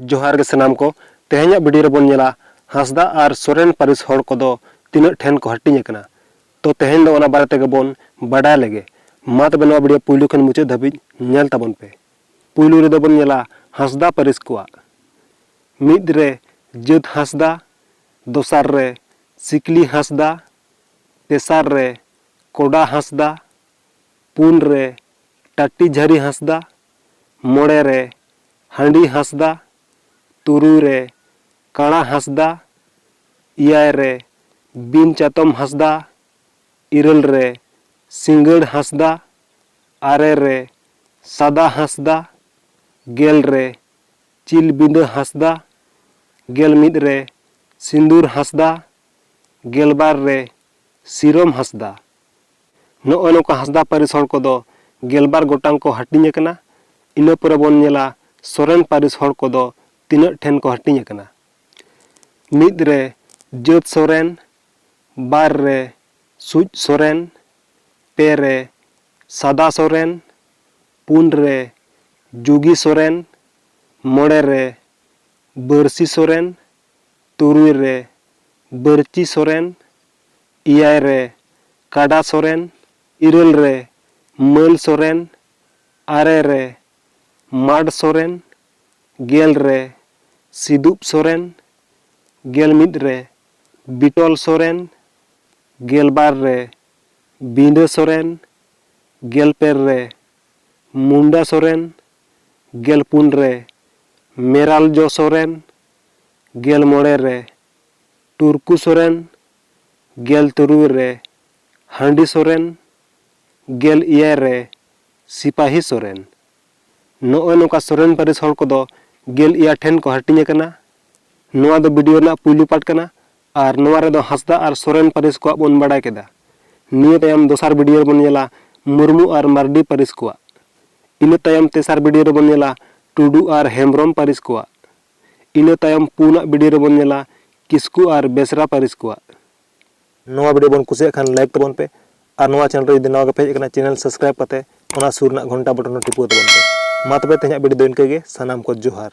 ᱡᱚᱦᱟᱨ ᱜᱮ ᱥᱟᱱᱟᱢ ᱠᱚ ᱛᱮᱦᱮᱧᱟᱜ ᱵᱷᱤᱰᱤᱭᱳ ᱨᱮᱵᱚᱱ ᱧᱮᱞᱟ ᱦᱟᱸᱥᱫᱟ ᱟᱨ ᱥᱚᱨᱮᱱ ᱯᱟᱹᱨᱤᱥ ᱦᱚᱲ ᱠᱚᱫᱚ ᱛᱤᱱᱟᱹᱜ ᱴᱷᱮᱱ ᱠᱚ ᱦᱟᱹᱴᱤᱧ ᱟᱠᱟᱱᱟ ᱛᱚ ᱛᱮᱦᱮᱧ ᱫᱚ ᱚᱱᱟ ᱵᱟᱨᱮ ᱛᱮᱜᱮ ᱵᱚᱱ ᱵᱟᱰᱟᱭ ᱞᱮᱜᱮ ᱢᱟ ᱛᱚᱵᱮ ᱱᱚᱣᱟ ᱵᱷᱤᱰᱤᱭᱳ ᱯᱩᱭᱞᱩ ᱠᱷᱚᱱ ᱢᱩᱪᱟᱹᱫ ᱫᱷᱟᱹᱵᱤᱡ ᱧᱮᱞ ᱛᱟᱵᱚᱱ ᱯᱮ ᱯᱩᱭᱞᱩ ᱨᱮᱫᱚ ᱵᱚᱱ ᱧᱮᱞᱟ ᱦᱟᱸᱥᱫᱟ ᱯᱟᱹᱨᱤᱥ ᱠᱚᱣᱟᱜ ᱢᱤᱫ ᱨᱮ ᱡᱟᱹᱛ ᱦᱟᱸᱥᱫᱟ ᱫᱚᱥᱟᱨ ᱨᱮ ᱥᱤᱠᱞᱤ ᱦᱟᱸᱥᱫᱟ ᱛᱮᱥᱟᱨ ᱨᱮ ᱠᱚᱰᱟ ᱦᱟᱸᱥᱫᱟ, ᱯᱩᱱ ᱨᱮ ᱴᱟᱴᱤᱡᱷᱟᱨᱤ ᱦᱟᱸᱥᱫᱟ, ᱢᱚᱬᱮ ᱨᱮ ᱦᱟᱸᱰᱤ ᱦᱟᱸᱥᱫᱟ, ᱛᱩᱨᱩᱭ ᱨᱮ ᱠᱟᱬᱟ ᱦᱟᱸᱥᱫᱟ, ᱮᱭᱟᱭ ᱨᱮ ᱵᱤᱱ ᱪᱟᱛᱚᱢ ᱦᱟᱸᱥᱫᱟ, ᱤᱨᱟᱹᱞ ᱨᱮ ᱥᱤᱸᱜᱟᱹᱲ ᱦᱟᱸᱥᱫᱟ, ᱟᱨᱮ ᱨᱮ ᱥᱟᱫᱟ ᱦᱟᱸᱥᱫᱟ, ᱜᱮᱞ ᱨᱮ ᱪᱤᱞ ᱵᱤᱸᱫᱟᱹ ᱦᱟᱸᱥᱫᱟ, ᱜᱮᱞ ᱢᱤᱫ ᱨᱮ ᱥᱤᱸᱫᱩᱨ ᱦᱟᱸᱥᱫᱟ, ᱜᱮᱞ ᱵᱟᱨ ᱨᱮ ᱥᱤᱨᱚᱢ ᱦᱟᱸᱥᱫᱟ, ᱱᱚᱜᱼᱚᱭ ᱱᱚᱝᱠᱟ ᱦᱟᱸᱥᱫᱟ ᱯᱟᱹᱨᱤᱥ ᱦᱚᱲ ᱠᱚᱫᱚ ᱜᱮᱞᱵᱟᱨ ᱜᱚᱴᱟᱝ ᱠᱚ ᱦᱟᱹᱴᱤᱧ ᱟᱠᱟᱱᱟ᱾ ᱤᱱᱟᱹ ᱯᱚᱨᱮ ᱵᱚᱱ ᱧᱮᱞᱟ ᱥᱚᱨᱮᱱ ᱯᱟᱹᱨᱤᱥ ᱦᱚᱲ ᱠᱚᱫᱚ ᱛᱤᱱᱟᱹᱜ ᱴᱷᱮᱱ ᱠᱚ ᱦᱟᱹᱴᱤᱧ ᱟᱠᱟᱱᱟ᱾ ᱢᱤᱫ ᱨᱮ ᱡᱟᱹᱛ ᱥᱚᱨᱮᱱ, ᱵᱟᱨ ᱨᱮ ᱥᱩᱡ ᱥᱚᱨᱮᱱ, ᱯᱮ ᱨᱮ ᱥᱟᱫᱟ ᱥᱚᱨᱮᱱ, ᱯᱩᱱ ᱨᱮ ᱡᱩᱜᱤ ᱥᱚᱨᱮᱱ, ᱢᱚᱬᱮ ᱨᱮ ᱵᱟᱹᱨᱥᱤ ᱥᱚᱨᱮᱱ ᱛᱩᱨᱩᱭ ᱨᱮ ᱵᱟᱹᱨᱪᱤ ᱥᱚᱨᱮᱱ, ᱮᱭᱟᱭ ᱨᱮ ᱠᱟᱰᱟ ᱥᱚᱨᱮᱱ, ᱤᱨᱟᱹᱞ ᱨᱮ ᱢᱟᱹᱞ ᱥᱚᱨᱮᱱ, ᱟᱨᱮ ᱨᱮ ᱢᱟᱰ ᱥᱚᱨᱮᱱ, ᱜᱮᱞ ᱨᱮ ᱥᱤᱫᱩᱵ ᱥᱚᱨᱮᱱ, ᱜᱮᱞ ᱢᱤᱫ ᱨᱮ ᱵᱤᱴᱚᱞ ᱥᱚᱨᱮᱱ, ᱜᱮᱞ ᱵᱟᱨ ᱨᱮ ᱵᱤᱸᱰᱟᱹ ᱥᱚᱨᱮᱱ, ᱜᱮᱞ ᱯᱮ ᱨᱮ ᱢᱩᱱᱰᱟ ᱥᱚᱨᱮᱱ, ᱜᱮᱞ ᱯᱩᱱ ᱨᱮ ᱢᱮᱨᱟᱞᱡᱚ ᱥᱚᱨᱮᱱ, ᱜᱮᱞ ᱢᱚᱬᱮ ᱨᱮ ᱴᱩᱨᱠᱩ ᱥᱚᱨᱮᱱ, ᱜᱮᱞ ᱛᱩᱨᱩᱭ ᱨᱮ ᱦᱟᱺᱰᱤ ᱥᱚᱨᱮᱱ, ᱜᱮᱞ ᱮᱭᱟᱭ ᱨᱮ ᱥᱤᱯᱟᱦᱤ ᱥᱚᱨᱮᱱ᱾ ᱱᱚᱜᱼᱚᱭ ᱱᱚᱝᱠᱟ ᱥᱚᱨᱮᱱ ᱯᱟᱹᱨᱤᱥ ᱦᱚᱲ ᱠᱚᱫᱚ ᱜᱮᱞ ᱮᱭᱟᱭ ᱴᱷᱮᱱ ᱠᱚ ᱦᱟᱹᱴᱤᱧ ᱟᱠᱟᱱᱟ᱾ ᱱᱚᱣᱟ ᱫᱚ ᱵᱤᱰᱤᱭᱳ ᱨᱮᱱᱟᱜ ᱯᱩᱭᱞᱩ ᱯᱟᱨᱴ ᱠᱟᱱᱟ᱾ ᱟᱨ ᱱᱚᱣᱟ ᱨᱮ ᱫᱚ ᱦᱟᱸᱥᱫᱟᱜ ᱟᱨ ᱥᱚᱨᱮᱱ ᱯᱟᱹᱨᱤᱥ ᱠᱚᱣᱟᱜ ᱵᱚᱱ ᱵᱟᱰᱟᱭ ᱠᱮᱫᱟ᱾ ᱱᱤᱭᱟᱹ ᱛᱟᱭᱚᱢ ᱫᱚᱥᱟᱨ ᱵᱤᱰᱤᱭᱳ ᱨᱮᱵᱚᱱ ᱧᱮᱞᱟ ᱢᱩᱨᱢᱩ ᱟᱨ ᱢᱟᱨᱰᱤ ᱯᱟᱹᱨᱤᱥ ᱠᱚᱣᱟᱜ᱾ ᱤᱱᱟᱹ ᱛᱟᱭᱚᱢ ᱛᱮᱥᱟᱨ ᱵᱤᱰᱤᱭᱳ ᱨᱮᱵᱚᱱ ᱧᱮᱞᱟ ᱴᱩᱰᱩ ᱟᱨ ᱦᱮᱢᱵᱽᱨᱚᱢ ᱯᱟᱹᱨᱤᱥ ᱠᱚᱣᱟᱜ᱾ ᱤᱱᱟᱹ ᱛᱟᱭᱚᱢ ᱯᱩᱱ ᱟᱜ ᱵᱤᱰᱤᱭᱳ ᱨᱮᱵᱚᱱ ᱧᱮᱞᱟ ᱠᱤᱥᱠᱩ ᱟᱨ ᱵᱮᱥᱨᱟ ᱯᱟᱹᱨᱤᱥ ᱠᱚᱣᱟᱜ᱾ ᱱᱚᱣᱟ ᱵᱤᱰᱤᱭᱳ ᱵᱚᱱ ᱠᱩᱥᱤᱭᱟᱜ ᱠᱷᱟᱱ ᱞᱟᱭᱤᱠ ᱛᱟᱵᱚᱱ ᱯᱮ ᱟᱨ ᱱᱚᱣᱟ ᱪᱮᱱᱮᱞ ᱨᱮ ᱡᱩᱫᱤ ᱱᱟᱣᱟ ᱜᱮᱯᱮ ᱦᱮᱡ ᱟᱠᱟᱱᱟ ᱪᱮᱱᱮᱞ ᱥᱟᱵᱽᱥᱠᱨᱟᱭᱤᱵᱽ ᱠᱟᱛᱮ ᱚᱱᱟ ᱥᱩᱨ ᱨᱮᱱᱟᱜ ᱜᱷᱚᱱᱴᱟ ᱵᱚᱴᱚᱱ ᱦᱚᱸ ᱴᱤᱯᱟᱹᱣ ᱛᱟᱵᱚᱱ ᱯᱮ᱾ ᱢᱟ ᱛᱚᱵᱮ ᱛᱮᱦᱮᱧᱟᱜ ᱵᱤᱰᱤᱭᱳ ᱫᱚ ᱤᱱᱠᱟᱹ ᱜᱮ, ᱥᱟᱱᱟᱢ ᱠᱚ ᱡᱚᱦᱟᱨ᱾